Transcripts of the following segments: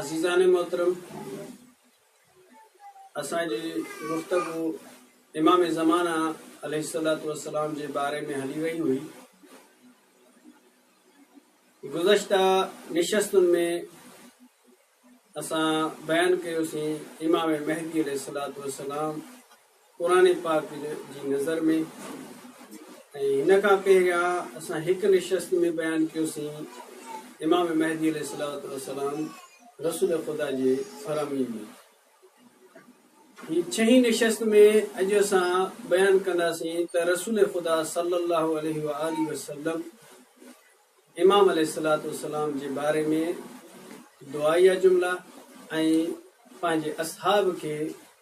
عزيزان محترم اسان جي گفتگو امام زمانه عليه الصلوۃ والسلام جي باري ۾ هلي وئي هئي گذشتہ نشستن ۾ اسان بيان ڪيوسين امام مهدي عليه الصلوۃ والسلام قرآن پاڪ جي نظر ۾ ۽ هن کان پهريان اسان هڪ نشست ۾ بيان ڪيوسين امام مهدي عليه الصلوة والسلام رسول خدا جي فرامين ۾ هي ڇهين نشست ۾ اڄ اسان بيان ڪنداسين ته رسول خدا صلي الله عليه وآله وسلم امام عليه الصلوة والسلام جي باري ۾ دعائيه جملا ۽ پنهنجي اصحاب کي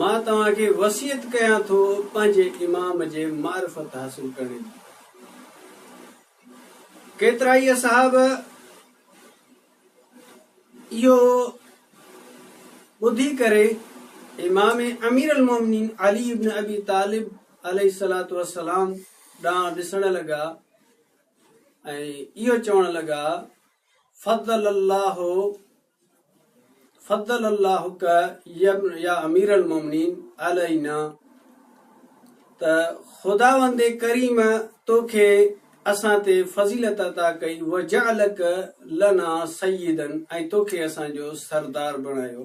مان توهان کي وصيت ڪيان ٿو پنهنجي امام جي معرفت حاصل ڪرڻ جي. ڪيترائي اصحاب اهو ٻڌي ڪري امام امير المومنين علي ابن ابي طالب عليه الصلاة والسلام ڏانهن ڏسڻ لڳا ۽ اهو چوڻ لڳا فضل الله فضل اللهک يا امير المومنين علينا ته خداوند ڪريم تو کي اسان تي فضيلت عطا ڪئي وجعلک لنا سيدا ۽ تو کي اسان جو سردار بڻايو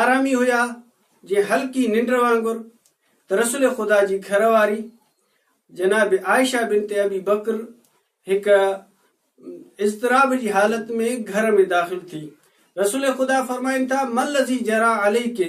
آرامي هيا جي هلڪي ننڊ وانگر ته رسول خدا جي گهر واري جناب عائشه بنت ابي بکر هڪ اضطراب جي حالت ۾ گهر ۾ داخل ٿي رسول خدا فرمائن ٿا مل ذي جرا علي کي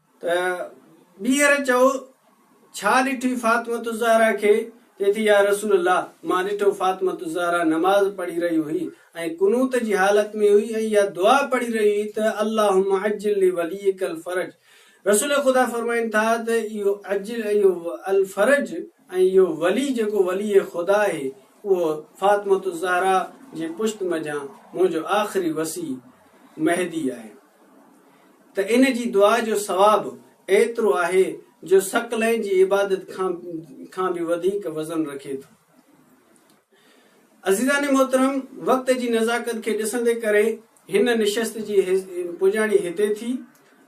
ته ٻيهر چئو ڇا ڏٺي فاطمة الزهرا کي؟ چئي ٿي يا رسول الله مان ڏٺو فاطمة الزهرا نماز پڙهي رهي هئي ۽ قنوت جي حالت ۾ هئي ۽ اها دعا پڙهي رهي هئي ته اللهم عجل لوليك الفرج رسول خدا فرمائن ٿا ته اهو عجل اهو الفرج ۽ اهو ولي جيڪو ولي خدا آهي اهو فاطمة الزهرا جي پشت منجهان منهنجو آخري وصي مهدي آهي. ته ان جي دعا جو ثواب ايترو آهي جو ثقلين جي عبادت کان کان به وڌيڪ وزن رکي ٿو. عزيزان محترم وقت جي نزاڪت کي ڏسندي ڪري هن نشست جي پڄاڻي هتي ٿي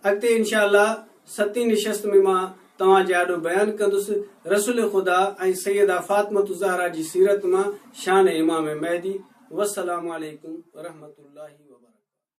اڳتي انشاء الله ستين نشست ۾ مان توهان جي آڏو بيان ڪندس رسول خدا ۽ سيده فاطمة الزهرا جي سيرت مان شان امام مهدي والسلام عليڪم ورحمة الله وبرڪاته.